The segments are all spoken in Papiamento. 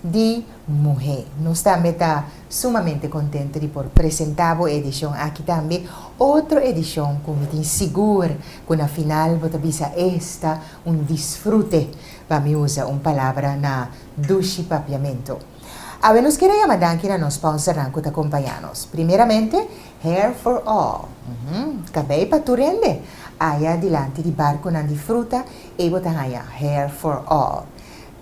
di Muhé. Nos tambe ta sumamente kontento di por presentá bo e edishon aki tambe, otro edishon ku mi tin sigur ku na final bo ta bisa esta un disfrute, pa mi usa un palabra na dushi papiamentu. Awe nos kier a yama danki na nos sponsornan ku ta kompañá nos. Primeramente, Hair for All, uhm, kabei pa tur hende. Aya dilanti di barkunan di fruta ei bo ta haña Hair for All.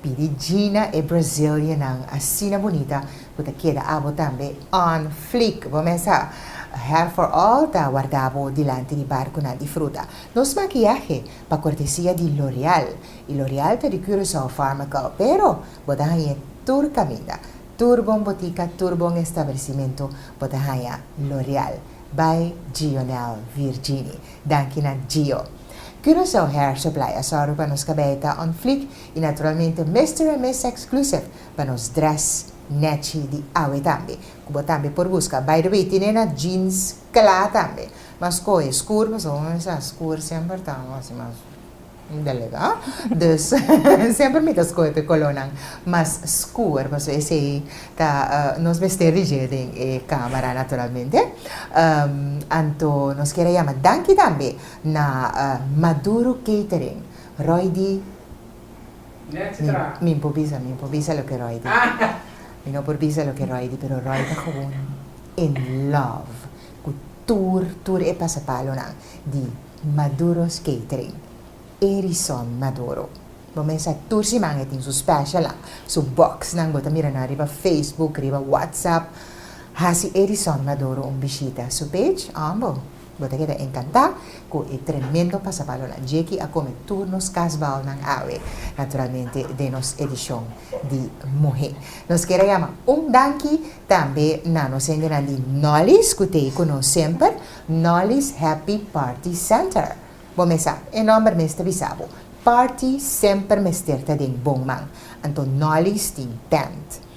Pidi Gina e Brazilianan asina bunita cu ta keda abo tambe on fleek. Bo mes a Her for All ta warda bo dilanti di barcunan di fruta. Nos makiahe pa cortesia di L'Oreal y L'Oreal ta di Curaçao Pharmacal pero bo ta hañ'e tur caminda, tur bon botica, tur bon establecimento bo ta haña L'Oreal. Bay Gionel Virgini. Danki na Gio. Curaçao Hair Supply a zorgo pa nos cabei ta on fleek Y naturalmente Mister and Miss Exclusive pa nos dress netchi di awe tambe. Cu bo tambe por busca. By the way, tin e na jeans cla tambe. M'a scoge scur pasobra bo mester a scur semper ta haci mas delga. Dus semper mi ta scoge pe colornan mas scur pasobra esey ta nos mester rige den e camera naturalmente. Anto nos kier a yama danki tambe na Maduro Catering Roy di mi por bisa mi por bisa loke Roy di mi no por bisa loke Roy di pero Roy ta gewoon in love ku tur tur e pasapalonan di Maduro's Catering Erison Maduro bo mes sa tur siman e tin su specialnan su boxnan bo ta mira nan riba Facebook riba WhatsApp hasi Erison Maduro un bishita su page ambo. Bo ta keda encantá cu e tremendo pasapalonan dje ki a come tur nos kasbalnan awe, naturalmente den nos edicion di muhé. Nos keda yama un danki tambe na nos hendenan di Nolly's cu t'ey cu nos semper, Nolly's Happy Party Center. Bo mes sa, e nomber mes ta bisa bo, party semper mester ta den bon man, anto Nolly's tin tent.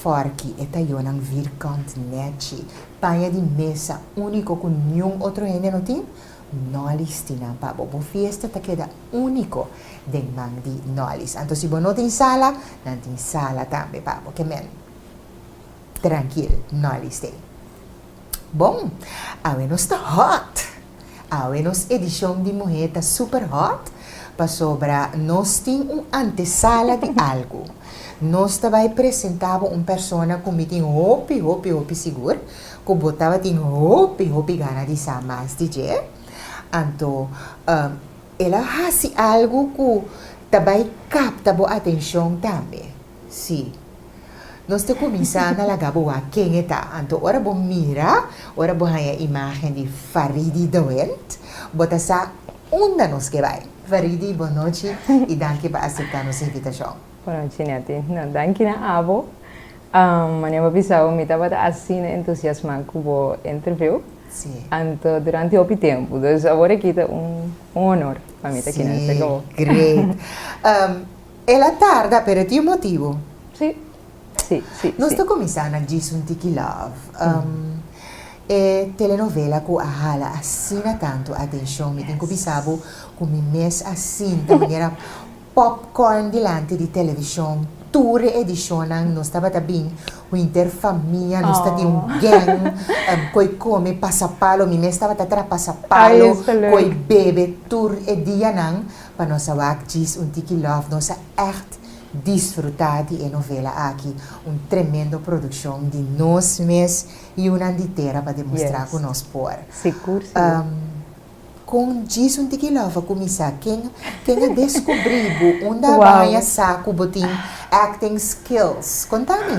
Forki e tayonan vir kant nechi, paña di mesa úniko ku niun otro hende no tin, nòlis tin nan pa bo. Bo fiesta ta keda úniko den man di nòlis. Anto si bo no tin sala, nan tin sala tambe pa bo. Kemen trankil, nòlis t'ei. Bon, awe nos ta hòt! Awe nos edishon di Muhé ta super hot pasobra nos tin un antesala di algu. Nos ta bai presentá bo un persona ku mi tin hopi hopi hopi sigur ku bo tabatin hopi hopi gana di sa mas di dje. Anto el a hasi algu ku ta bai kapta bo atenshon tambe. Sí. Nos ta kuminsá na laga bo wak ken e ta. Anto ora bo mira, ora bo haña imágen di Faridy de Wint, bo ta sa unda nos ke bai. Faridy, bon nochi i danki pa aseptá nos invitashon. Bon nochi, Netty. No, danki na abo. Manera bo a bisa bo, mi tabata asina entusiasmá ku bo entreviú. Sí. Anto duranti hopi tempu. Dus awor aki ta un honor pa mi ta kina esaki bo. Sí, great. El a tarda pero e tin un motibu. Sí, sí, sí. Nos ta cuminsa na djis un tiki love. E telenovela cu a hala asina tanto atencion mi tin cu bisa bo cu mi mes a sinta manera popcorn dilanti di television tur e edicionnan nos tabata bin huinter famia nos ta tin un gang coy come pasa palo mi mes tabata tra pasa palo coy bebe tur e dianan Pa nos a wak djis un tiki lòf nos a ègt disfrutá di e novela aki, un tremendo produkshon di nos mes yunan di tera pa demostrá ku nos por. Kon djis un tiki lòf a kuminsá? Ken ken a deskubrí bo? Unda bo haña sa ku bo tin acting skills? Konta mi.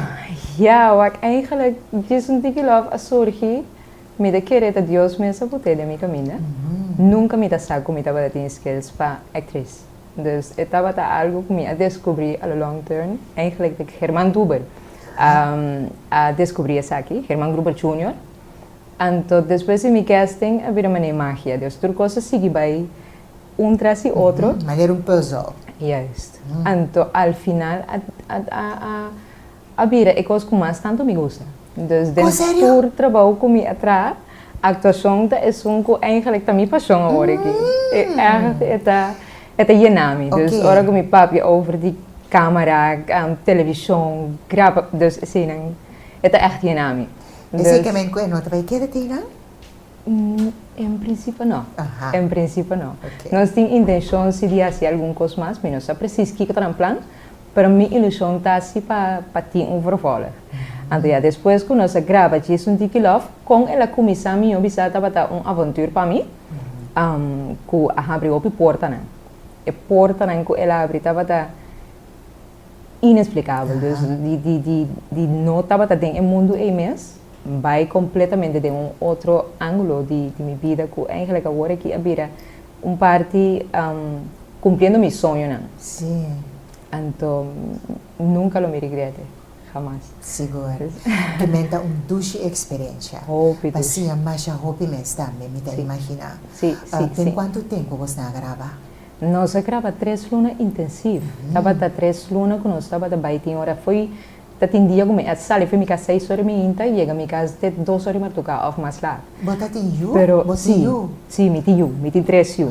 Ya wak, eingelik djis un tiki lòf a surgi Mi ta kere ta Dios mes a put'é den mi kaminda. Nunka mi ta sa ku mi tabata tin skills pa actriz. Dus e tabata algu ku mi a deskubrí a lo long term. Eigenlik ta Germán Gruber a deskubrí esaki, Germán Gruber Junior. Anto despues di mi casting a bira manera magia. Dios tur kos a sigui bai un tras di otro. Manera un puzzle. Juist. Anto al final a. A bira e kos ku mas tantu mi gusta. Dus den tur trabou ku mi a traha, aktuashon ta esun ku eingelek ta mi pashon awor aki. E ègt e ta e ta yena mi. Dus ora ku mi papia over di kámara, televishon, graba, dus eseinan e ta ègt yena mi. Esei ke men kue no ta bai keda tei nan? En principio no. Aha. En principio no. Okay. Nos tin intencion si di haci algun cos mas, mi no sa precies kico ta nan plan, pero mi ilusion ta si pa pa tin un vervolg. Anto ya despues cu nos a graba Jason Dicky Love, con el a cuminsa mi yo bisa tabata un avontur pa mi, um, cu a habri hopi portanan. E portanan cu el a habri tabata. inexplicabel, dus di di di di no tabata den e mundu ei mes, bai completamente den un otro angulo di di mi bida cu eigenlijk awor aki a bira un parti cumpliendo mi soñonan. Si. Anto nunca lo mi regrete, jamas. Sigur. Kimen ta un dushi experiencia. Hopi dushi. Pasia masha hopi mes tambe, mi ta imagina. Si, si, si. Den cuanto tempo bos na a graba? Nos a graba tres luna intensief. Tabata tres luna cu nos tabata bay tin ora fo'i. Ta tin dia cu mi a sali fo'i mi cas seis ora di mihinta y yega mi cas te dos ora di martuca of mas laat. Bo ta tin yu? Pero Bo tin yu? si, si mi tin yu, mi tin tres yu.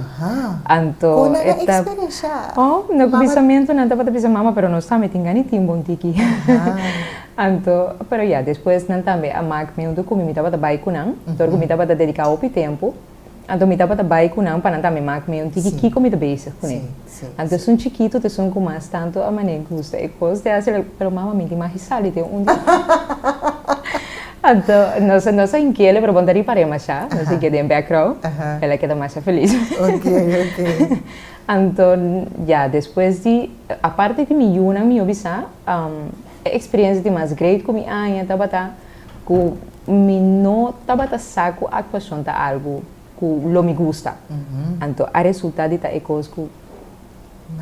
Anto Con nan a e ta, experiencia oh, no cu mama? bisamento nan tabata bisa mama pero nos tambe tin gana di tin bo un tiki. Anto, pero ya, despues nan tambe a mak mi huntu cu mi, mi tabata bay cu nan, tur cu mi tabata dedica hopi tempo. Anto mi tabata bai cu nan pa nan tambe maak meon di di kico mi ta bezig cu ne. Anto esun chikito ta esun cu mas tanto a mane gusta e cos di hacer el. Pero mama mi di magisal di den un di Anto nos nos a inkele pero bon ta ripa re masha, nos inkele den background, el a keda masha feliz. Anto ya despues di aparte di mi yunan mi yo bisa e experiencia di mas great cu mi aña tabata. Ku mi no tabata sa ku aktuashon ta algu ku lo mi gusta. Anto a resultá di ta e kos ku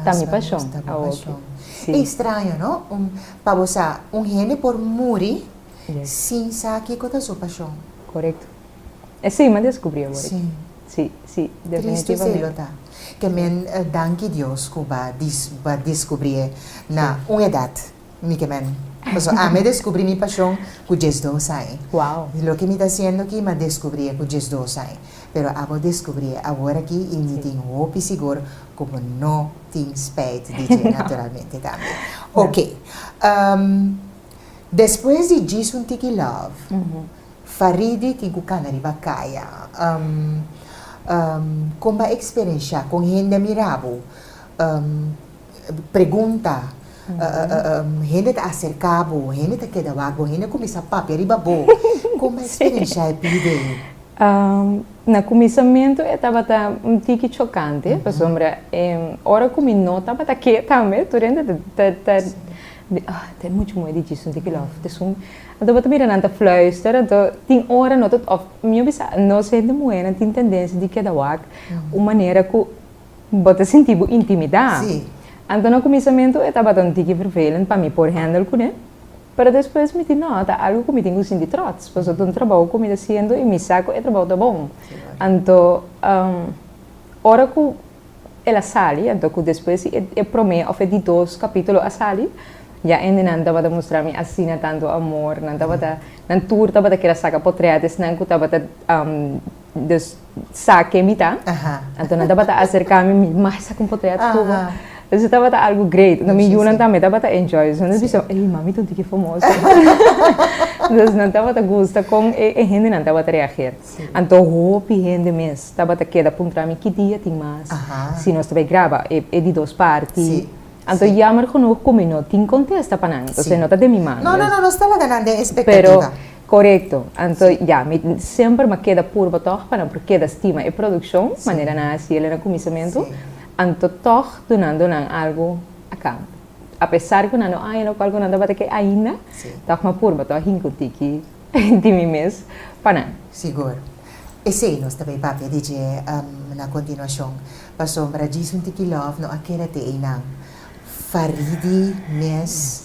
ta mi pashon. Awoke si. Estraño no? Pa bo sa un hende por muri sin sa kiko ta su pashon. Korekto. Esei mi a deskubrí awor aki. Si, si, definitivamente. Tristu esei lo ta. Ke men danki Dios ku bo a deskubrí e na un edat. mi ke men. Paso ami a deskubrí mi pashon ku djesdos ai. Wow! Loke mi ta siendo aki mi a deskubrié ku djesdos ai. Pero abo deskubrié awor aki i mi tin hopi sigur ku bo no tin spijt di dje. Naturalmente tambe. Oke. Despues di Djis un tiki love, Faridi tin ku kana riba kaya. Kon bo a eksperenshá? Kon hende a mirá bo? Pregunta, hende ta aserka bo, hende ta keda wak bo, hende a kuminsá papia riba bo. Kome eksperenshia e pide? Na kuminsamentu e tabata un tiki chokante, pasobra ora ku mi no tabata ke tambe, tur hende ta di, oh, ta muchu moe di djis, sunti kila, òf ta esun. Anto bo ta mira nan ta fluister, anto tin ora no ta, òf mi a bisa, nos hende muhénan tin tendensia di keda wak un manera ku. Bo ta sinti bo intimidá? Sí. Anto na kuminsamentu e tabata un tiki vervelend pa mi por hendel kuné, pero despues mi tin nota algu ku mi tin ku sinti trots, pasobra ta un trabou ku mi ta siendo i mi sa ku e trabou ta bon. Anto ora ku el a sali, anto ku despues si e promé òf e di dos kapítulo a sali, ya hende nan tabata mustra mi asina tantu amor, nan tabata nan tur tabata kera saka potrèt di esnan ku tabata. Dus, sa ke mi ta. Anto nan tabata aserká mi, mi mai sa kon por ta ya tubo. Dus e tabata algu great. Anto mi yunan tambe tabata enjoy. Dus nan ta bisa, ei, mami ta un tiki famoso. Dus nan tabata gusta kon e e hendenan tabata reager. Anto hopi hende mes tabata keda puntra mi, ki dia tin mas si nos ta bai graba e e di dos parti? Anto yammer genoeg ku mi no tin kontesta pa nan. Entonces no ta den mi man. Pero. Korekto. Anto ya, mi semper mi a keda purba tòg pa nan por keda stima e produkshon, manera nan a hasi el na kuminsamentu, anto tòg dunando nan algu a kant. Apesar ku nan no haña lokual ku nan tabata ke ainda, tòg mi a purba tòg hinka un tiki di mi mes pa nan. Sigur. Esei nos ta bai papia di dje na kontinuashon. Pasobra djis un tiki lòf no a keda te einan. Faridi mes.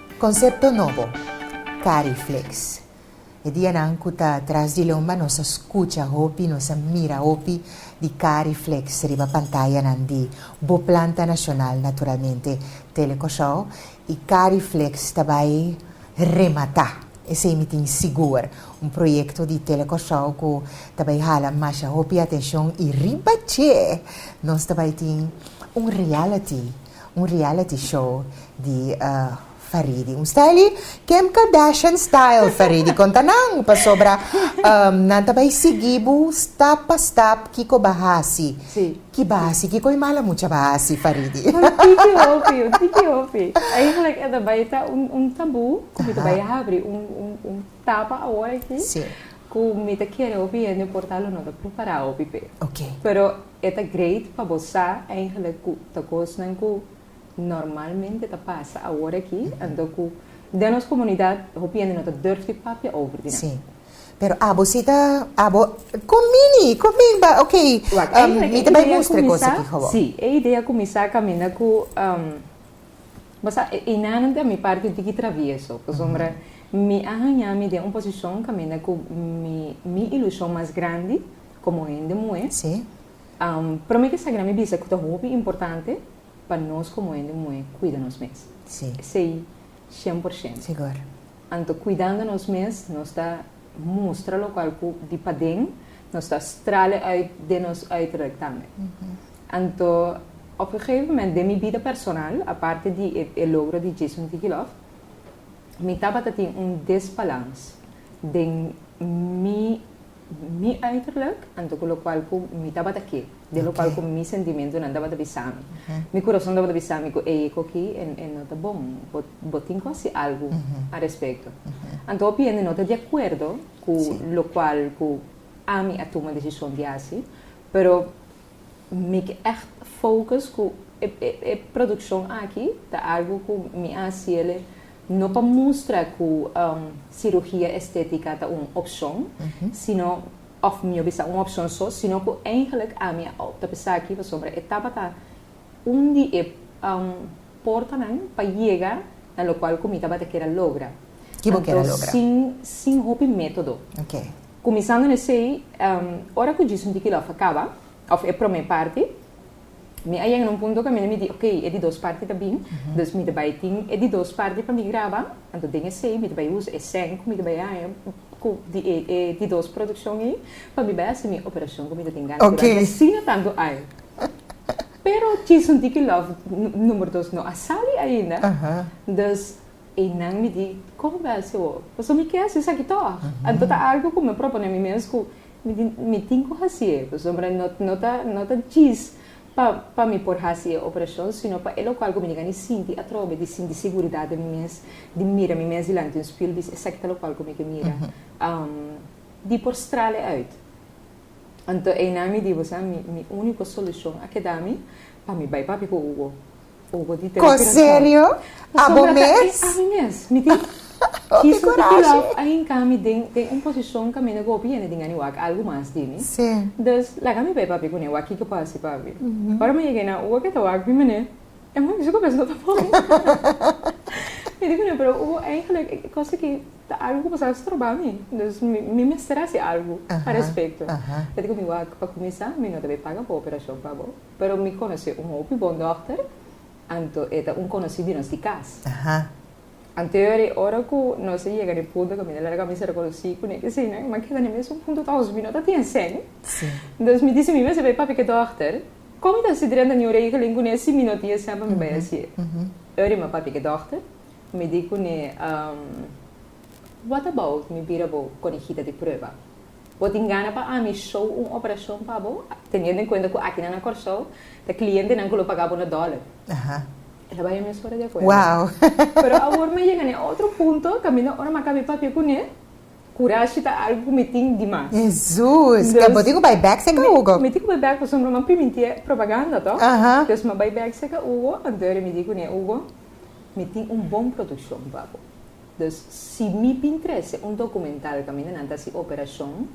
Konsepto nobo, Cariflex. E dianan ku ta tras di lomba nos a skucha hopi, nos a mira hopi di Cariflex riba pantayanan di Bo Planta Nashonal, naturalmente Tele Kòrsou, i Cariflex ta bai rematá, esei mi tin sigur, un proyekto di Tele Kòrsou ku ta bai hala masha hopi atenshon i riba dje nos ta bai tin un reality. Un reality show di Faridi. Un styli Kim Kardashian style Faridi konta nan pasobra nan ta bai sigui bu stap pa stap kiko ba hasi ki ba hasi kiko e mala mucha ba hasi Faridi. Un tiki hopi un tiki hopi eigenlijk e ta bai ta un tabu ku mi ta bai habri un tapa awor aki ku mi ta kere hopi hende por ta lo no ta prepará hopi p'e pero E ta great pa bo sa eigenlijk ku ta kosnan ku normalmente ta pasa awor aki, anto ku den nos komunidat hopi hende no ta durf di papia over di nan. Sí. Pero abo si ta, abo, kon mini, kon mi ba, ok, Wak, eigenlijk mi ta e bai idea mustra e kos kuminsá, aki for bo. sí, e idea kuminsá kaminda ku, bo sa, e enanan ta mi parti un tiki travieso, pasobra mi a haña mi den un posishon kaminda ku mi, mi ilushon mas grandi, Komo hende muhé, promé ke sa kira mi bisa ku ta hopi importante pa nos komo hende muhé kuida nos mes. Esei shen por shento. Anto kuidando nos mes nos ta mustra lokual ku di paden nos ta strale uit den nos uiterlijk tambe. Anto op e geven moment den mi bida personal, aparte di e logro di Jason Digilof, mi tabata tin un desbalans den mi. Mi uiterlijk, anto ku lokual ku mi tabata ke, den lokual ku mi sentimentunan tabata bisa mi. Mi kurason tabata bisa mi ku ei ko ki e no ta bon. Bo bo tin ku hasi algu a respekto. Anto hopi hende no ta di akuerdo ku lokual ku ami a tuma desishon di hasi, pero Mi ke echt focus ku e produccion aki ta algo ku mi a haci ele no pa mustra ku cirugia estetica ta un opcion sino of mi yo bisa un opcion so sino ku eigenlik ami a opta pa esaki pasobra e tabata un di e portanan pa yega na lokual ku mi tabata kere logra. Ki bo kere logra? Anto sin hopi metodo. Kuminsando n'esei, ora ku djis un dikilòf a kaba, òf e promé parti, mi a yega na un punto ku ami mi di, ok, e di dos parti ta bin, dus mi ta bai tin e di dos parti pa mi graba, anto den esei mi ta bai usa e sèn ku mi ta bai haña ku di e di dos produkshon ei pa mi bai hasi mi operashon ku mi ta tin gana ku dal, i asina tantu aña. Pero djis un dikilòf número dos no a sali ainda, dus. E nan mi di, Kon bèstia bo? Pasobra mi ke hasi esaki tòg. Anto ta algu ku mi a propone mi mes ku mi tin mi tin ku hasi e, pasobra no no ta no ta djis pa pa mi por hasi e operashon, sino pa e lokal ku mi yagani sinti atrobe di sinti seguridat den mi mes, di mira mi mes dilanti un spiel bis esaki ta lokal ku mi ke mira, di por strala e uit. Anto e nan mi di, Bo sa mi mi úniko solushon a keda mi pa mi bai papia ku bo. Ko serio? Abo mes? Ami mes. Mi tin kiss un tiki love ahinka mi den den un posishon kaminda ku hopi hende tin gana e wak algu mas di mi. Dus laga mi bai papia ku ne wak kiko por hasi papi. Ora mi yega na Ubo ke ta wak mi mene e muchacho su ku mes no ta bon. Mi di ku ne pero Ubo eigenlik e kos aki ta algu ku bo sa stroba mi. Dus mi mester hasi algu pa respekto. Ora ku mi wak pa kuminsa mi no ta bai paga bo operashon pa bo. Pero mi conoce un hopi bon dokter, anto e ta un conoci di nos di cas. Anterior di ora cu nos a yega na e punto cu mi ta larga mi ser conoci cu ne kesinan, mi a keda na mesun punto ta hopi mi no ta tin seng. Entonces mi dici mi mes bai papia ke dokter, con mi ta hasi drenta ni un regeling cu ne si mi no tin seng pa mi bai haci'e? Ora mi a papia ke dokter, mi di cu ne, What about mi bira bo conejita di prueba? Bo tin gana pa ami show un operacion pa bo, teniendo en cuenta cu akinan na Corsou ta clientenan cu lo paga bo na dollar? El a bay ami un sora di acuerdo. Pero awor mi a yega na e otro punto cu mi no ora maca mi papia cu ne, curashi ta algo cu mi tin di mas. Jesus! Pues bo tin cu bay bek seca, Hugo? Mi tin cu bay bek pasobra mi a piminti e propaganda, to. Entonces mi a bay bek seca Hugo, anto e rimiti cu ne, Hugo, mi tin un bon produccion pa bo. Dus si mi bin trese un documental caminda nan ta haci operacion,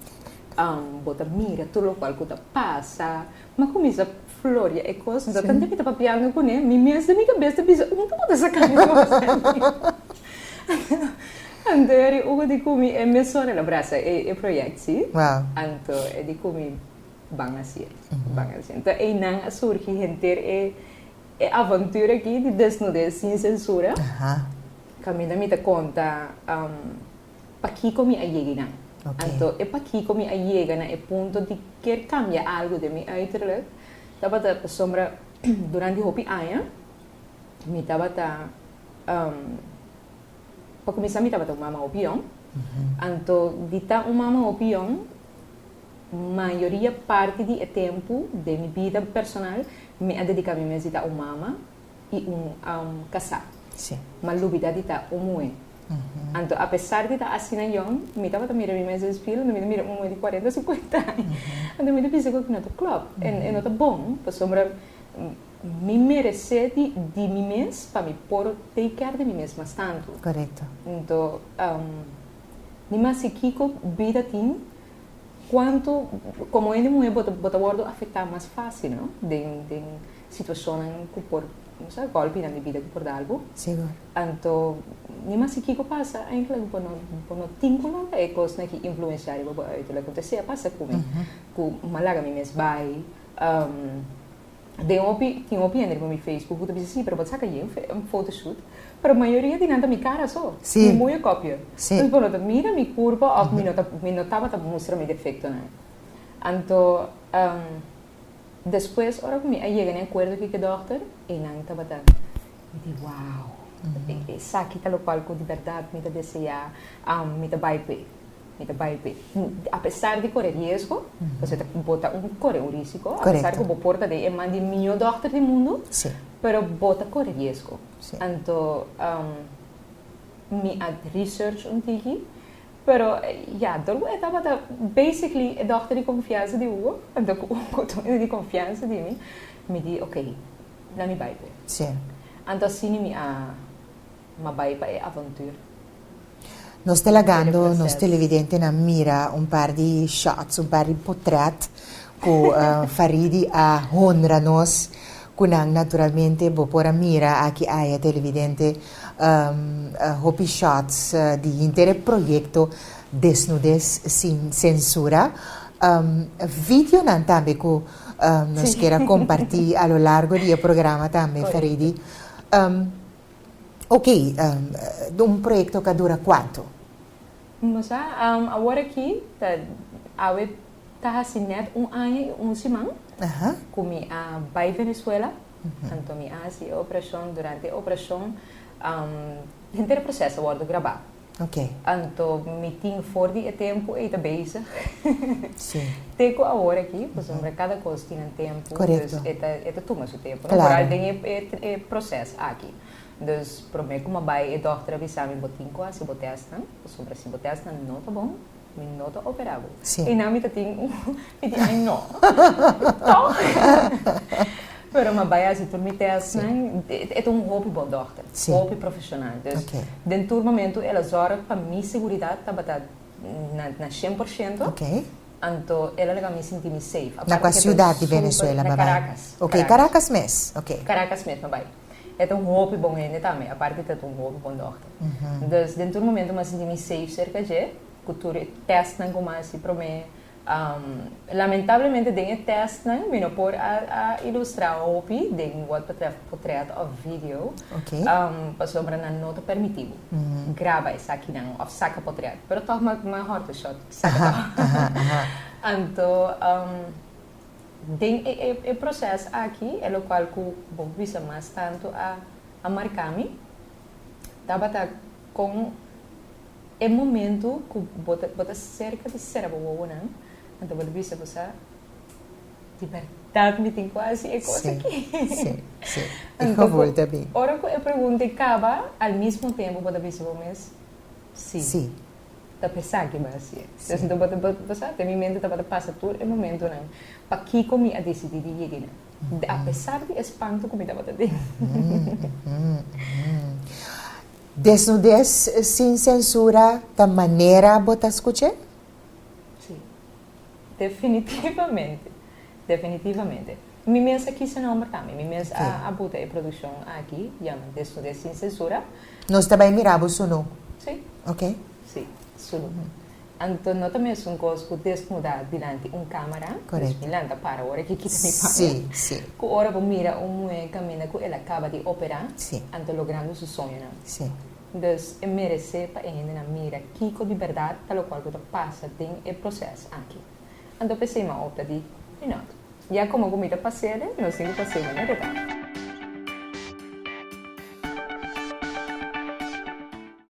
bo ta mira tur locual cu ta pasa, m'a cuminsa floria e cos, do tanta mi ta papiando cu ne, mi mes den mi cabes ta bisa, un ta por ta saca mi cos aki? Anto e di uno di cu mi e mesora lo brasa e project, si? Wow. Anto e di cu mi ban hacier, ban hacier. Anto eynan a surgi henter e aventura aki di desnudez sin censura. Aha. Caminda mi ta conta pakico mi a yega hinan. Anto e pakico mi a yega na e punto di kier cambia algo den mi uiterlijk, tabata pasobra durante hopi aña mi tabata, pa cuminsa mi tabata un mama hopi jong, anto di ta un mama hopi jong mayoria parti di e tempo den mi bida personal mi a dedica mi mes di ta un mama. i un am kasá. Ma lubidá di ta un muhé. Anto apesar di ta asina yòn, mi tabata mira mi mes den spil, anto mi ta mira un muhé di kuarenta, sukuenta aña. Anto mi ta bisa ku aki no ta klòp. E no ta bon. Pasobra mi meresé di di mi mes pa mi por take care di mi mes mas tantu. Anto mi mas si kiko bida tin, kuantu, komo hende muhé bo ta wòrdu afektá mas fásil, no? Den. Situacionnan cu por, bo sa, golpi nan di bida cu por dal bo. Sigur. Anto, ni mas di kico pasa, eindelijk bo no, bo no tin cu lo ta e cosnan ki influenciari bo pa uitu. Lo cu ta sea pasa cu mi, cu mi a laga mi mes bay, den hopi, tin hopi hende riba mi Facebook cu ta bisa, si, pero bo ta saca aye un fotoshoot, pero mayoria di nan ta mi cara so, cu mi moño copio. Si. Entonces bo no ta mira mi curpa of mi no ta, mi no tabata mustra mi defectonan. Anto. Despues ora cu mi a yega na e acuerdo cu e dokter, enan tabata di wow! Esaki ta locual cu di berdad mi ta desea, mi ta bay p'e, mi ta bay p'e. Apesar di core riesgo, pasobra ta bo ta un core un risico, apesar cu bo por ta den e man di e miyo dokter di mundu, pero bo ta core riesgo. Anto mi a research un tiki, Pero, ya, Durgu e tabata basically e dòkter di konfiansa di Hugo, anto ku Hugo tabata di konfiansa di mi, mi di ok, na mi bai p'e. Sí. Anto asina mi a ma bai pa e avontur. Nos ta lagando nos televidentenan mira un par di shots, un par di potrèt ku Faridi a honra nos ku nan. Naturalmente bo por a mira aki aya televidente. Hopi shots di henter e proyekto Desnudes sin sensura. Videonan tambe ku nos keda kompartí a lo largo di e programa tambe, Faridy. Ok, un proyekto ka dura kuantu? Bo sa, awor aki ta, awe ta hasi nèt un aña i un siman ku mi a bai Venezuela. Anto mi a hasi e oprashon, durante e oprashon henter e proseso a wordu grabá. Anto mi tin for di e tempu ei ta bezig te ku awor aki, pasobra kada kos tin nan tempu, dus e ta e ta tuma su tempu, no? Por al den e proses aki. Dus promé ku mi a bai e dòkter a bisa mi bo tin ku hasi bo tèstnan, pasobra si bo tèstnan no ta bon, Mi no ta operá bo. Sí. I nan mi ta tin un piti ai no. Tòg. Pero mi a bai hasi tur mi tèstnan. Sí. E ta un hopi bon dòkter. Sí. Hopi profeshonal. Dus, Ok. den tur momentu el a zòrg pa mi seguridat tabata na, na shen por shento. Ok. Anto el a leba mi sinti mi safe. Na Aparte kua ke ta siudat di súper- Venezuela mi a Na bai? Karakas. Ok, Karakas mes. Ok. Karakas mes mi a bai. E ta un hopi bon hende tambe, aparte di ta ta un hopi bon dòkter. Entonces, den tur momento mi a sinti mi safe serka dje, ku tur e tèstnan ku mi a hasi promé. Lamentablemente den e tèstnan mi no por a a ilustrá hopi den wòt betrèf potrèt òf video, pasobra nan no ta permití bo graba esakinan òf saka potrèt. Pero tòg mi a mi a hòrtu shòt saka tò. Anto, Den e e e proces aki e locual cu bo bisa mas tanto a a marca mi tabata con e momento cu bo ta bo ta cerca di cera bo wowonan anto bo ta bisa bo sa di berdad mi tin cu haci e cos aki anto cu ora cu e pregunta caba al mismo tempo bo ta bisa bo mes si. ta pesa ki bo a hasi. Entonces bo ta pasa, den mi mente tabata pasa tur e momentonan, pakiko mi a decidí di yega ei nan? Apesar di e spantu ku mi tabata den. Desnudez sin sensura ta manera bo ta skuch'é? Sí. Definitivamente, definitivamente. Mi mes a kisa nomber tambe, mi mes a a buta e produccion aki, yama Desnudez sin censura. Nos ta bai mira bo solo? Si. Ok. Si, solo. Anto no ta mesun cos cu desnuda dilanti un camera, Correcto. dus mi lanta para ora ki kita mi paña. Si, si. Cu ora bo mira un muhe caminda cu el a caba di opera, Si. anto logrando su soñonan. Si. Dus e meresé pa e hendenan mira kiko di bèrdat ta lokual ku ta pasa den e proses aki. Anto p'esei m'a opta di, Mi nòt. Ya komo ku mi ta pase'de, nos tin ku pase'e manera e ta.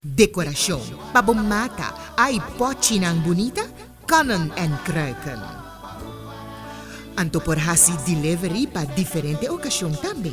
Dekorashon pa bo mata, ai pòchinan bunita? Konnen en Kruiken. Anto por hasi delivery pa diferente okashon tambe.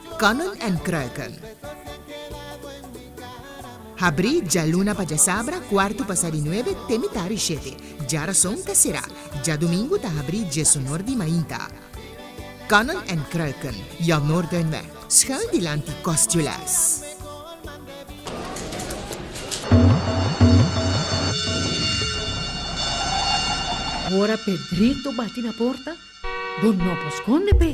Conan en Kruiken. Habrí djaluna pa djasabra kuartu pasá di nuebe te mitá di shete. Djarason ta será. Djadumingu ta habrí djesonor di mainta. Conan en Kruiken, Jan Noordenweg, schuin dilanti Kostjules. Ora Pedrito bati na porta, bo no por skonde p'e.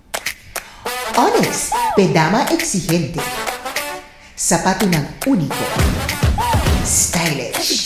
Ones, p'e dama exigente. Sapatunan único, stylish.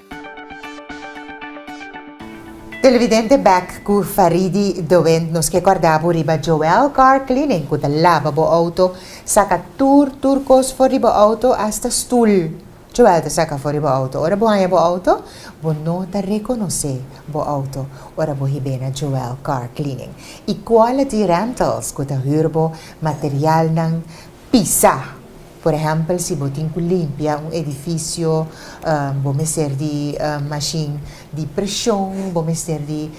Televidente Back ku Faridy de Wind nos ke kòrda bo riba Joel Car Cleaning ku ta laba bo outo, saka tur tur kos for di bo outo asta stul Joel ta saka for di bo outo. Ora bo haña bo outo bo no ta rekonosé bo outo ora bo hib'é na Joel Car Cleaning i Quality Rentals ku ta hür bo materialnan pisa. Por ehèmpel si bo tin ku limpia un edifisio, bo mester di mashin di preshon, bo mester di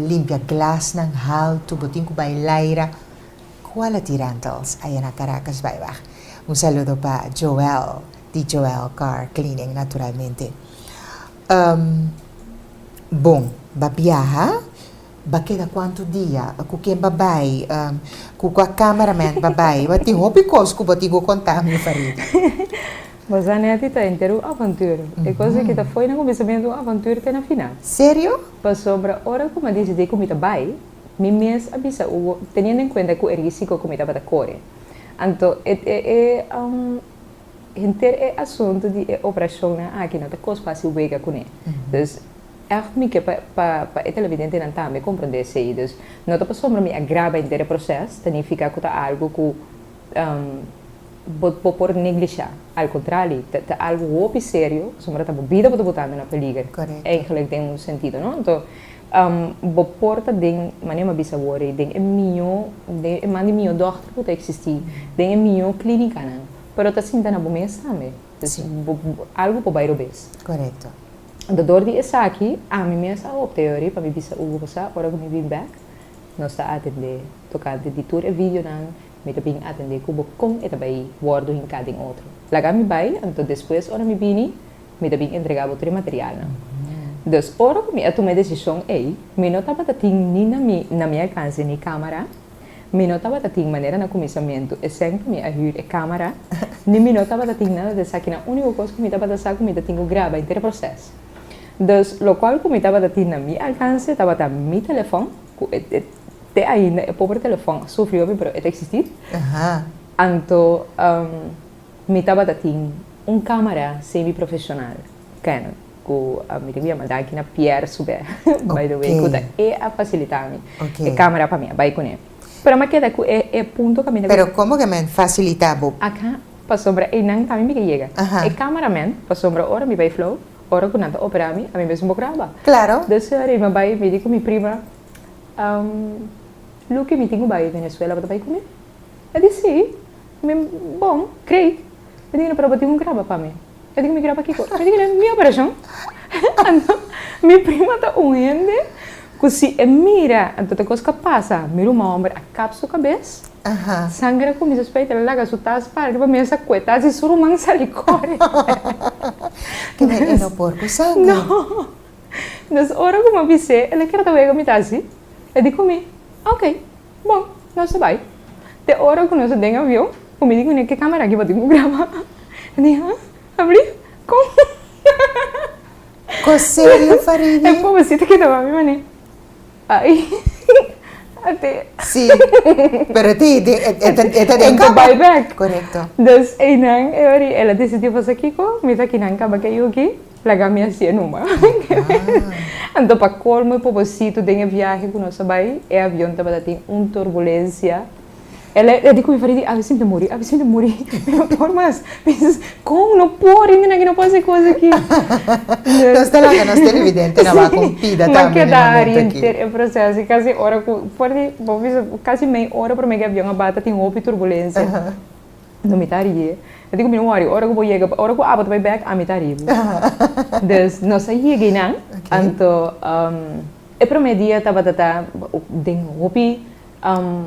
limpia glasnan haltu, bo tin ku bai laira quality rentals aye na Caracas baibag. Un saludo pa Joel di Joel Car Cleaning naturalmente. Bon, ba biaha. Ba keda kuantu dia ku ken ba bai ku kua cameraman ba bai? Bo a tin hopi kos ku bo tin ku konta ami Farid. Bo sa Netty ta enter un avantur. E kos ki ta fo'i na kuminsamentu un avantur te na final. Serio? Pasobra ora ku mi a disidí ku mi ta bai, mi mes a bisa Hugo teniendo en kuenta ku e risiko ku mi tabata kore. Anto e e henter e asuntu di e operashonnan aki no ta kos fasi wega kuné. Dus. Èf, Mi ke pa e televidentenan tambe komprendé esei. Dus no ta pasobra mi a graba henter e proses ta nifiká ku ta algu ku bo por neglishá. Al kontrali, ta algu hopi serio pasobra ta bo bida bo ta botando na peliger. Eigenlijk den un sentido, no? Anto, bo por ta den, manera m'a bisa wòrdu, den e mihó, den e man di mihó dòkter ku ta eksistí, den e mihó klínikanan, pero ta sinta na bo mes tambe. Dus, algu por bai robes. Dor di esaki, ami mes a hopi a yori pa mi bisa un gosa ora ku mi bin bèk. Nos ta atendé. Tokante di tur e videonan, mi ta bin atendé ku bo kon e ta bai wòrdu hinká den otro. Laga mi bai, anto despues ora mi bini, mi ta bin entregá bo tur e materialnan. Dus ora ku mi a tuma e desishon ei, mi no tabata tin ni na mi alkanse ni kámara. Mi no tabata tin manera na kuminsamentu, esèn ku mi a hür e kámara, ni mi no tabata tin nada di esakinan. Úniko kos ku mi tabata sa ku mi ta tin ku graba henter e proses. Dus, lokual ku mi tabata tin na mi alkanse tabata mi telefòn, ku e te ainda e pober telefòn a sufri hopi pero e ta eksistí. Anto mi tabata tin un kámara semi-profeshonal, Canon. Ku a mi ta ku yama Danki na Pierre su bè, by the way, ku ta e a fasilitá mi e kámara pa mi a bai kuné. Pero mi a keda ku e punto ku a mi ta ku. Pero komo ku e men fasilitá bo? Aká, pasobra einan tambe mi ke yega. E kámara men, pasobra ora mi bai Flow, ora ku nan ta operá mi, ami mesmu por graba. Klaro. Dus ri mi a bai, mi di ku mi prima, Luki, mi tin ku bai Venezuela, bo ta bai ku mi? E di sí. Mi, Bon, great. Mi di, Pero bo tin ku graba pa mi. E di ku mi kira pa kiko? Mi di kila, mi operashon. Anto mi prima ta un hende ku si e mira anto te kos ka pasa. Mi ruma hòmber a kap su kabes, sanger a kuminsa spei, ta laga su tas parke pa mensa kue tas i su ruman sali kore. Ke mi e no por ku sanger. No. Entonces ora ku mi a bis'é, el a kira ta wega mi ta así. E di ku mi, Oke. Bo, nos ta bai. Te ora ku nos a den avion, ku mi di kuné ke kámara aki batin ku graba. E di, Há? Abrí? Kon? Ko serio, Faribi? E pobrecito kedaba mi manera. Ai, a te. Sí, pero e te, e ta, e ta den kámara. E ta bai bèk. Korekto. Dus einan e ora el a desidiu fasi kiko? Mira, kinan kaba ke yu aki. Plaga mi a sie numa. Anto pa colmo e pobositu den e viahe cu nos a bay e avion tabata tin un turbulencia. El a di cu mi paridi a Vicente muri, a Vicente muri, mi no por mas. Mi dice, con no por y miran no por hacer cos aki. Nos ta laga nos televidente na baco un pida tambe. Mi a keda ari enter e proceso y casi ora cu, for di, bo bisa casi mey ora prome cu e avion a bata tin hopi turbulencia. No mi ta rie. E di cu mi no worry. Ora cu bo yega, ora cu Abo ta bay bek, ami ta rie bo. Dus nos a yega y nan. Okay. Anto um e prome dia tabata ta den hopi um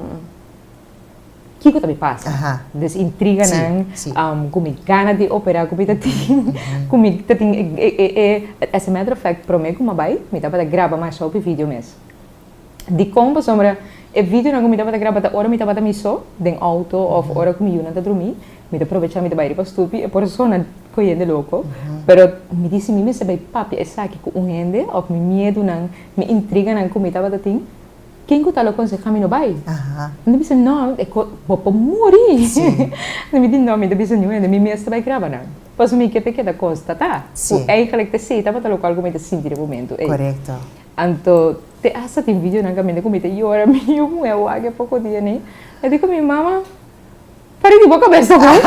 kico ta bay pasa. Aha. Dus intriga nan. Si, si. Um cu mi gana di opera cu mi ta tin, cu mi ta tin e, e, e, e, as a matter of fact prome cu mi a bay mi tabata graba masha hopi video mes. Dikon pasobra e videonan ku mi tabata graba ta ora mi tabata mi so den outo òf ora ku mi yunan ta drumí. Mi ta probechá mi ta bai riba stupi e por sona ku hende loko. Pero mi di si mi mester bai papia esaki ku un hende òf mi miedunan, mi intriganan ku mi tabata tin, ken ku ta lo konsehá mi no bai? Mi ta bisa, no, e kos, bo por muri! Enton mi di, no, mi no ta bisa niun hende, mi mes ta bai graba nan. Pasobra mi ke ta keda konstatá ku eigentlik te sí tabata lo ku algu mi ta sinti den momentu ei. Anto te asta tin videonan caminda cu mi ta yora, mi yu muhe wak e poco dia nei. E di cu mi, Mama, pare di bo cabeza bon.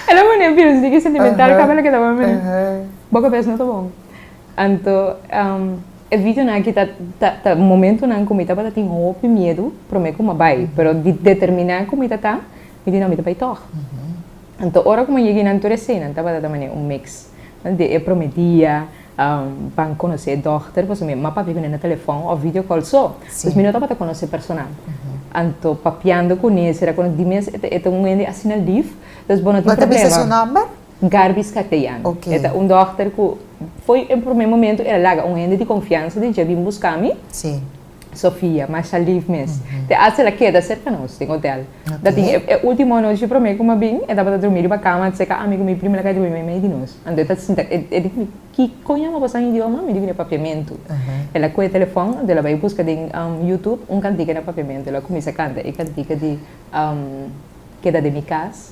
E lo mane Bill si sigui sentimental caba lo que ta mami nei. Bo cabeza no ta bon. Anto e videonan aki ta, ta, ta momentonan cu mi tabata tin hopi miedu, prome cu mi a bay, pero di determina cu mi ta ta, mi di no, mi ta bay tog. Anto ora ku mi a yega einan tur e senan tabata ta manera un mix. Durante e prome dia ban konosé e dòkter pasobra mi ama papia ku nan na telefòn òf video kòl so. Pues mi no tabata konosé personal. Anto papiando kuné sera ku di mes e ta e ta un hende asina lif. Entonces bo no tin problema. Manda bisa su nòmber? Garbis Cateano. Ok. E ta un dòkter ku fo'i e prome momentu el a laga un hende di konfiansa den dje a bin buska mi. Si. Sofia, masha lief mes. Te aas ela keda serka nos den hotel. Ta tin e ultimo anochi prome ku mi a bin, e tabata drumi riba kama a seka ami ku mi prima la kai drumi mei di nos. Anto e ta sinta, e di ku mi, Kiko yama boso aña idioma? Mi di ku na papiamentu. El a kohe e telefon, anto el a bai buska den Youtube un kantika na papiamentu. El a kuminsa kanta e kantika di. keda den mi kas,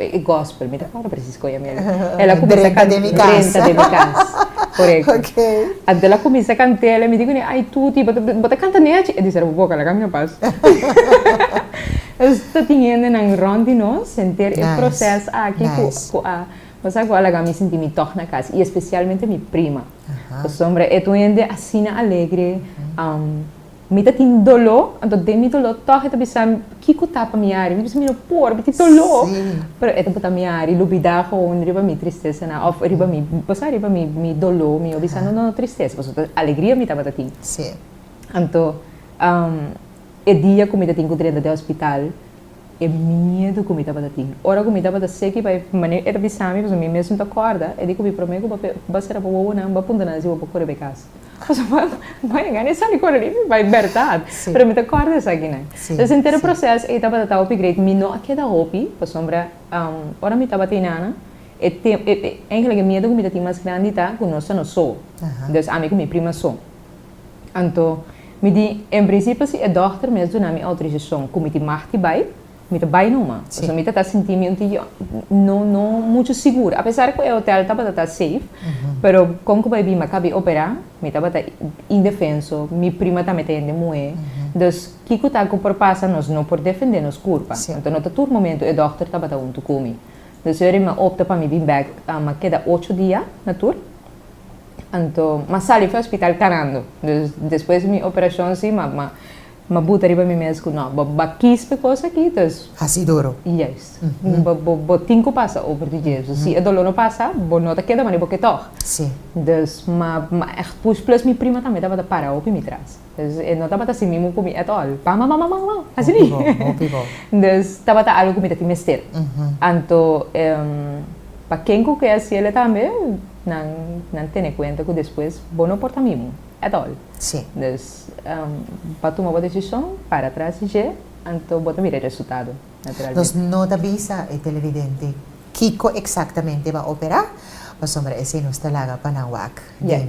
e gospel, mi ta kòrda presis kon yami awe, el a kuminsá kant'é, drenta den mi kas, drenta den mi kas, korekto, anto el a kuminsá kant'é la mi di kuné ai tuti bo ta bo ta kanta nechi, e di sera bo boka laga mi a pas, nos ta tin hendenan rònt di nos henter e proses aki ku ku a pasá ku a laga mi sinti mi tòg na kas i espesialmente mi prima, pasobra e ta un hende asina alegre. Mi ta tin doló, anto den mi doló tòg e ta bisam kiko ta pa mi ari. Mi ta bisa mi no por, mi tin doló. Pero e ta botá mi ari, lo bida gewoon riba mi tristesanan òf riba mi pasá riba mi mi doló. Mi a bisa no no no tristesa, pasobra ta alegria mi tabata tin. Anto e dia ku mi ta tin ku Drenda den hospital, E miedu ku mi tabata tin. Ora ku mi tabata seki pa e manera e ta bisa mi, pasobra mi mesmu ta kòrda, e di ku mi, Promé ku bo bai sera bo wowonan, bo a punta nan si bo por kore be kas. Pasobra bo a bai gana e sali kore di mi, bai bèrdat. Pero mi ta kòrda esakinan. Entonces e henter e proses ei tabata ta hopi greit. Mi no a keda hopi, pasobra ora mi tabata inana, e tempo, eingèlik e miedu ku mi ta tin mas grandi ta ku nos ta no so. Entonces ami ku mi prima so. Anto, mi di, En prinsipio si e dòkter mes duna mi outorisashon ku mi tin mag di bai, mi ta bai numa. Pasobra mi ta ta sinti mi un tin yo no no muchu sigur. Apesar ku e hotèl tabata ta seif, pero kon ku bai bin a kabi operá, mi tabata indefenso, mi prima ta mete hende muhé. Dus, kiko ta ku por pasa, nos no por defendé nos kurpa. Anto no ta tur momentu e dòkter tabata huntu ku mi. Dus, e hora mi a opta pa mi bin bèk, mi a keda ocho dia na tur. Anto ma sali fu e hospital carando. Dus despues mi operacion si ma ma ma buta riba mi mes cu no, bo ba kis pa e cos aki ta es. Hasi duro. Juist. Bo bo bo tin cu pasa over di dje. So si e dolor no pasa bo no ta keda mari bo ke tog. Si. Dus ma ma ech pus plus mi prima tambe tabata para hopi mi tras. Dus e no tabata sin mi muku mi at all. Bam bam bam bam bam! Hasi mi. Dus tabata algu ku mi ta tin mester. Anto pa ken ku ke hasiela tambe nan nan tene kuenta ku despues bo no por ta mimu at all. Dus pa tuma bo desishon para atras di dje anto bo ta mira e resultado naturalmente. Nos no ta bisa e televidente kiko eksaktamente e ba operá pasobra esei nos ta laga pa nan wak den.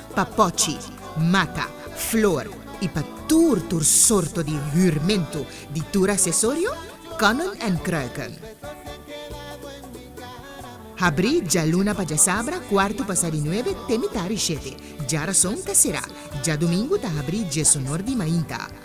pa pochi, mata, flor i pa tur tur sorto di hürmentu di tur asesorio, Konnen en Kruiken. Habrí djaluna pa djasabra kuartu pasá di nuebe te mitá di shete, djarason ta será, djadumingu ta habrí djesonor di mainta.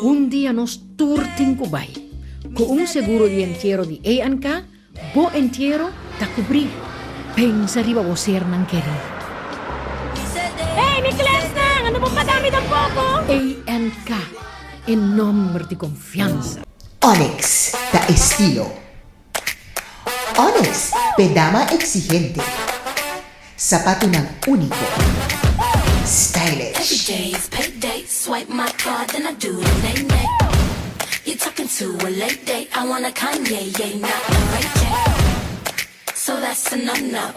Un dia nos tur tin ku bai. Ku un seguro di entiero di ANK, bo entiero ta kubrí. Pensa riba bo sernan kerí. Hey mi klèsnan, ando bo pagá mi den poko? ANK, e nòmber di konfiansa. Onyx ta estilo. Onyx, pedama exigente. Sapatunan unico. Stylish.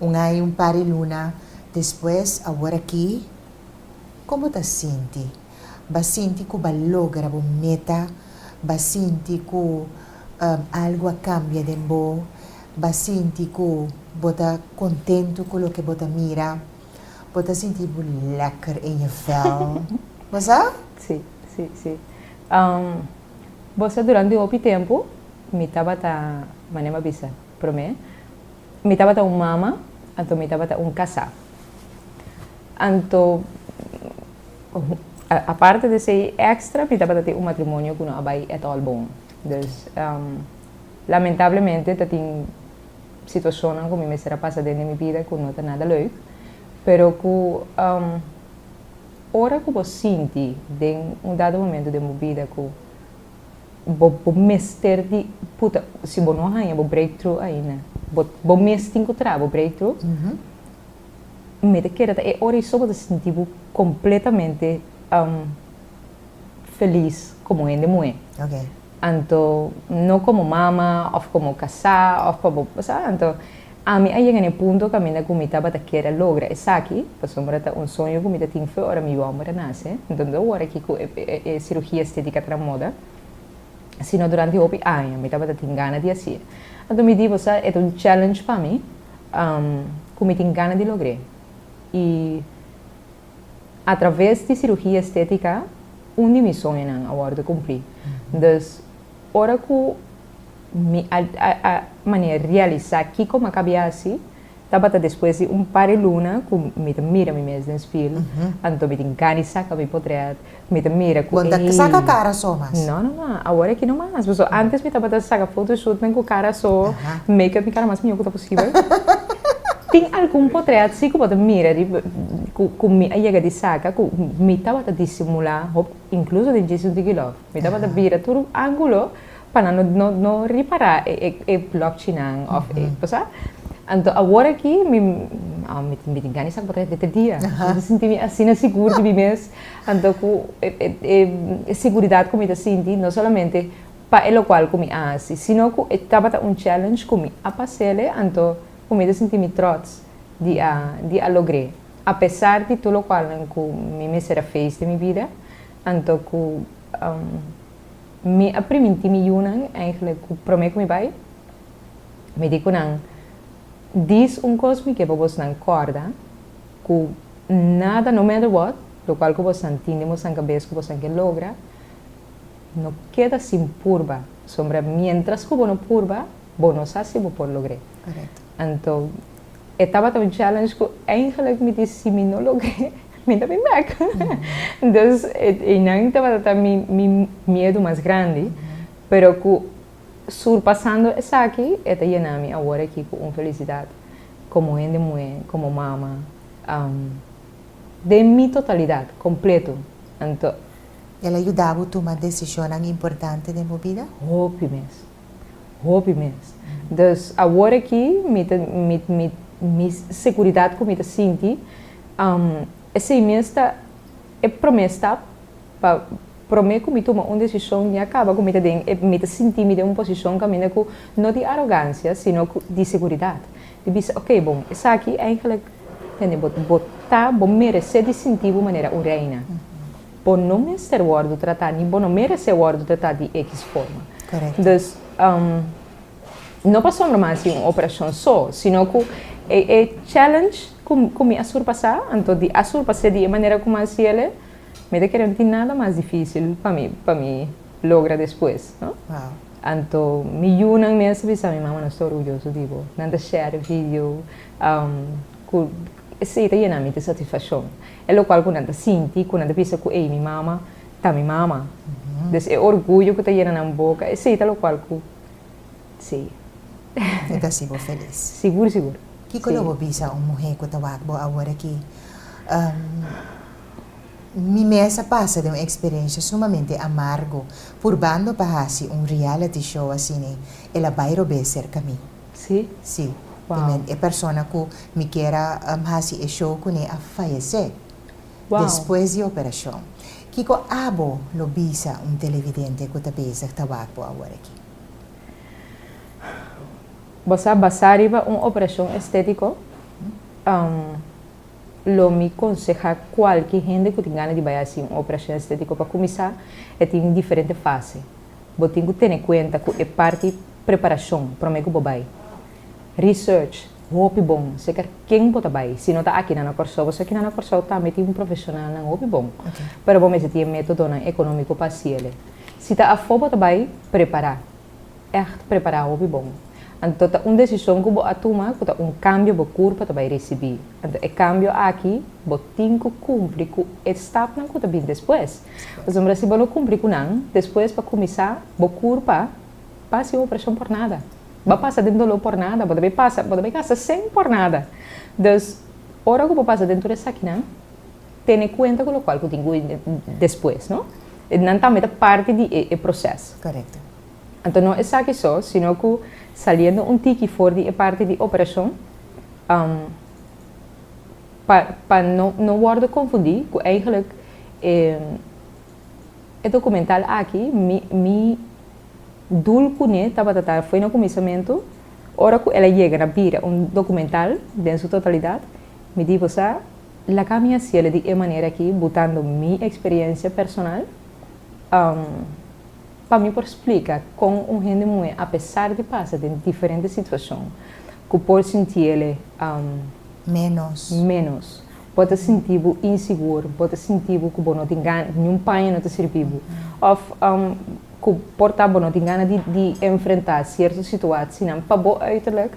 Un ai un par di luna despues awor aki, kon bo ta sinti? Ba sinti ku ba logra bo meta? Ba sinti ku algu a kambia den bo? Ba sinti ku bo ta kontentu ku loke bo ta mira? Bo ta sinti bo lekker in je vel, no es a? Sí, sí, sí. Bo sa, durante un hopi tempu mi tabata, manera mi a bisa, Promé, mi tabata un mama, anto mi tabata un kasá. Anto, aparte di esei èkstra, mi tabata tin un matrimonio ku no a bai ètòl bon. Dus, lamentablemente ta tin situashonnan ku mi mester a pasa den di mi bida ku no ta nada lèuk, pero ku ora ku bo sinti den un dado momentu den bo bida ku Bo bo mester di puta si bo no haña bo breakthrough ainda bo bo mes tin ku traha bo breakthrough mi ta kere ta e ora ei so bo ta sinti bo kompletamente felis komo hende muhé anto no komo mama òf komo kasá òf pa bo bo sa anto. Ami a yega na e punto kaminda ku mi tabata kere a logra esaki, pasobra ta un soño ku mi ta tin fe ora mi yòmber a nase. Enton ta ora ki ku e sirugia estétika tra moda, sino durante hopi aña mi tabata tin gana di hasi. Anto mi di, Bosa e ta un challenge pa mi ku mi tin gana di logr'é. I atraves di sirugia estétika un di mi soñonan a wòrdu kumplí. Dus Ora ku mi a a mane realisá kiko mi a kabi hasi, tabata despues di un par di luna ku mi ta mira mi mes den spil, anto mi tin gana di saka mi potret, mi ta mira ku ei. Bo ta saka kara so mas? No, no mas. Awor aki no mas. Pasobra antes mi tabata saka fotoshootnan ku kara so, make up mi kara mas mihó ku ta posibel. Tin algun potret si ku bo ta mira di ku mi a yega di saka ku mi tabata disimulá hopi, inkluso den Jason Diggilove. Mi tabata bira tur un angulo pa nan no no ripara e blokchi nan of e bo sa. Anto awor aki mi mi tin gana di sa ku bo ta hep dente dia. Mi ta sinti mi asina sigur di mi mes. Anto ku e siguridat ku mi ta sinti no solamente pa e lokual ku mi a hasi sino ku e tabata un challenge ku mi a pasele anto ku mi ta sinti mi trots di a di a logr'e apesar di tur lokualnan ku mi mester a feis den mi bida. Anto ku mi a primintí mi yunan, èiglek ku promé ku mi bai, mi di ku nan, Dis un kos mi ke pa bosnan kòrda, ku nada, no matter what, lokual ku bosnan tin den bosnan kabes ku bosnan ke logra, no keda sin purba, sombra miéntras ku bo no purba, bo no sa si bo por logr'é. Anto e tabata un challenge ku èiglek mi di si mi no logr'é, Mi ta bin bek. Dus einan tabata ta mi, mi miedu mas grandi. Pero cu surpasando esaki, e ta yena mi awor aki cu un felicidad como hende muher, como mama, um, den mi totalidad, completo. Anto. El a yuda bo tuma decisionnan importante den bo bida? Hopi mes. Hopi mes. Dus awor aki mi ta, mi, mi, mi seguridad cu mi ta sinti. Esei mes ta e promé stap, pa promé ku mi tuma un desishon mi a kaba ku mi ta den e, mi ta sinti mi den un posishon kaminda ku no di arogansia sino ku di seguridat, di bisa oke bon esaki eingelik tende bo bo ta bo meresé di sinti bo manera un reina, bo no mester wòrdu tratá ni bo no meresé wòrdu tratá di ekiss forma, dus. no pa sombra mas di un operashon so, sino ku e e challenge ku ku mi a surpasá, anto di a surpas'é di e manera ku mas yele, mi ta kere no tin nada mas difísil pa mi pa mi logra despues, no. Wow. Anto mi yunan mes ta bisa mi, Mama, nos ta orguyoso di bo. Nan ta share e video um ku esei ta yena mi di satisfashon. E lokual ku nan ta sinti ku nan ta bisa ku ei mi mama ta mi mama. Des e orguyo ku ta yena nan boka, esei ta lokual ku. Sí. E ta hasi bo felis. Sigur, sigur. Kiko lo bo bisa un muhé ku ta wak bo awor aki? Mi mes a pasa den un eksperensia sumamente amargu purbando pa hasi un reality show asina. El a bai robé serka mi. Sí? Sí. Wou. E persona ku mi ker a hasi e show kuné a fayesé. Despues di operashon, kiko abo lo bisa un televidente ku ta bezig ta wak bo awor aki? Bo sa, basá riba un operashon estétiko, lo mi konsehá kualke hende ku tin gana di bai hasi un operashon estétiko, pa kuminsá e tin diferente fase. Bo tin ku tene kuenta ku e parti preparashon promé ku bo bai. Research, hopi bon, seker ken bo ta bai, si no ta aki nan na Kòrsou, bo sa kinan na Kòrsou tambe tin profeshonalnan hopi bon, pero bo mester tin e métodonan ekonómiko pa hasi el'e. Si ta afó bo ta bai, prepará, ègt prepará hopi bon. Anto ta un desishon ku bo a tuma ku ta un kambio bo kur pa ta bai risibí. Anto e kambio aki bo tin ku kumpli ku e stapnan ku ta bin despues. Pasobra si bo no kumpli ku nan, despues pa kuminsá bo kur pa pa hasi un operashon por nada. Bo pasa den doló por nada, bo ta bay pasa, bo ta bay gasta cen por nada. Dus, ora cu bo pasa den tur esakinan, tene cuenta cu locual cu tin cu bay despues, no? Nan tambe ta parti di e proces. Correcto. Anto no esaki so, sino cu saliendo un tiki for di e parti di operacion, um, pa, pa no, no wordo confundi cu eigenlijk e, e documental aki mi, mi. Dul cu ne tabata ta fo'i na cuminsamentu, ora cu el a yega na bira un documental den su totalidad, mi di bo sa, laga mi hacielo di e manera aki butando mi experiencia personal, am, pa mi por splica con un hende muhe apesar di pasa den diferente situacion cu por sintiele, am, Menos. menos. Bo ta sinti bo insigur, bo ta sinti bo ku bo no tin gana, ku niun paña no ta sirbi bo, òf ku por ta bo no tin gana di enfrentá sierto situasinan. Pa bo uiterlijk,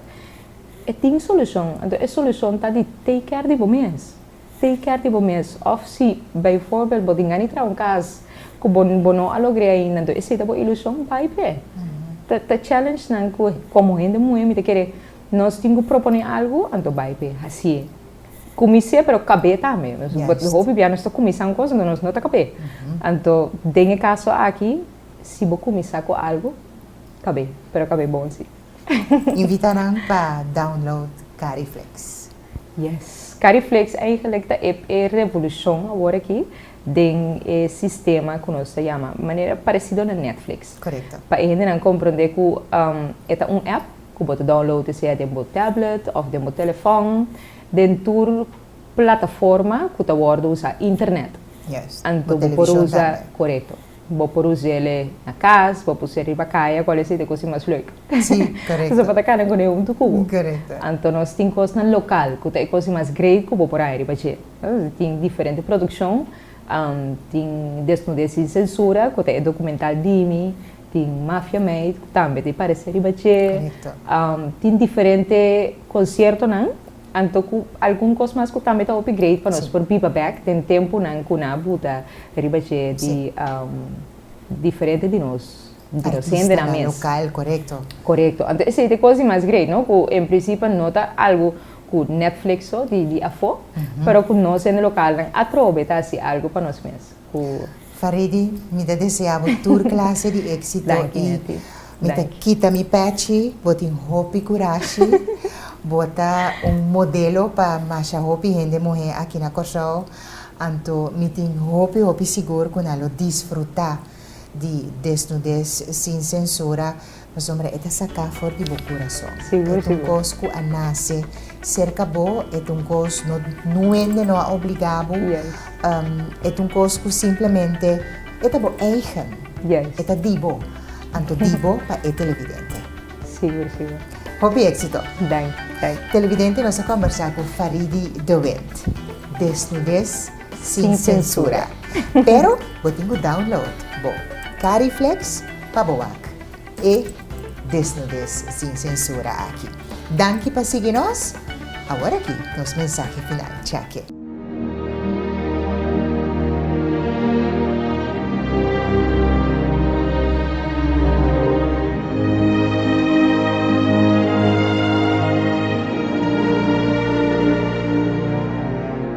e tin solushon. Anto e solushon ta di take care di bo mes. Take care di bo mes. Òf si baiforbel bo tin gana di traha un kas ku bo bo no a logr'é ainda, anto esei ta bo ilushon, bai p'e. Ta ta challenge nan ku komo hende muhé mi ta kere. Nos tin cu propone algo, anto bay pe hacie. Cumisie, pero cabe tambe. But hopi bia nos ta cumisa un cosa, anto nos no ta cabe. Anto, den e caso aki, si bo cumisa cu algo, cabe. Pero cabe bon si. Invita nan pa download Cariflex. Yes. Cariflex eigenlijk ta e e revolucion awor aki den e sistema cu nos ta yama, manera parecido na Netflix. Correcto. Pa e hendenan compronde cu e ta un app. ku bo ta download i sea den bo tablet òf den bo telefòn, den tur plataforma ku ta wòrdu usá internet. Anto bo por usa, korekto, bo por us'e na kas, bo por us'e riba kaya, kual esei ta e kos di mas leuk. Nos a pata kana kuné huntu ku bo. Anto nos tin kosnan lokal ku ta e kos di mas great ku bo por haña riba dje. Tin diferente produkshon Tin Desnudez sin Censura, ku ta e dokumental di mi, tin Mafia Meid, ku tambe ta e paresé riba dje. Tin diferente konsiertonan, anto ku algun kos mas ku tambe ta hopi great pa nos por biba bèk den tempunan ku nan a buta riba dje di diferente di nos hendenan mes. Korekto. Anto esei ta e kos di mas great, no? Ku en prinsipio no ta algu. cu Netflix so di di afo, pero cu nos hende localnan atrobe ta haci algo pa nos mes, cu. Faridi, mi ta desea bo tur clase di exito. Danki mi a ti. Mi ta kita mi pechi, bo tin hopi curashi, bo ta un modelo pa masha hopi hende muhe aki na Corsou, anto mi tin hopi hopi sigur cu nan lo disfruta. di desnudes sin sensura pasobra e ta sacá for di bo curason. E ta un cos cu a nace cerca bo, e ta un cos no nuende no a obligá bo, e ta un cos cu simplemente e ta bo eigen, e ta di bo, anto di bo pa e televidente. Hopi exito! Televidente nos a combersa cu Faridy de Wint, desnudes. Sin censura. Pero bo tin cu download bo Cariflex pa bo wak e desnudez sin censura aki. Danki pa sigui nos. Awor aki nos mensahe final. Chake.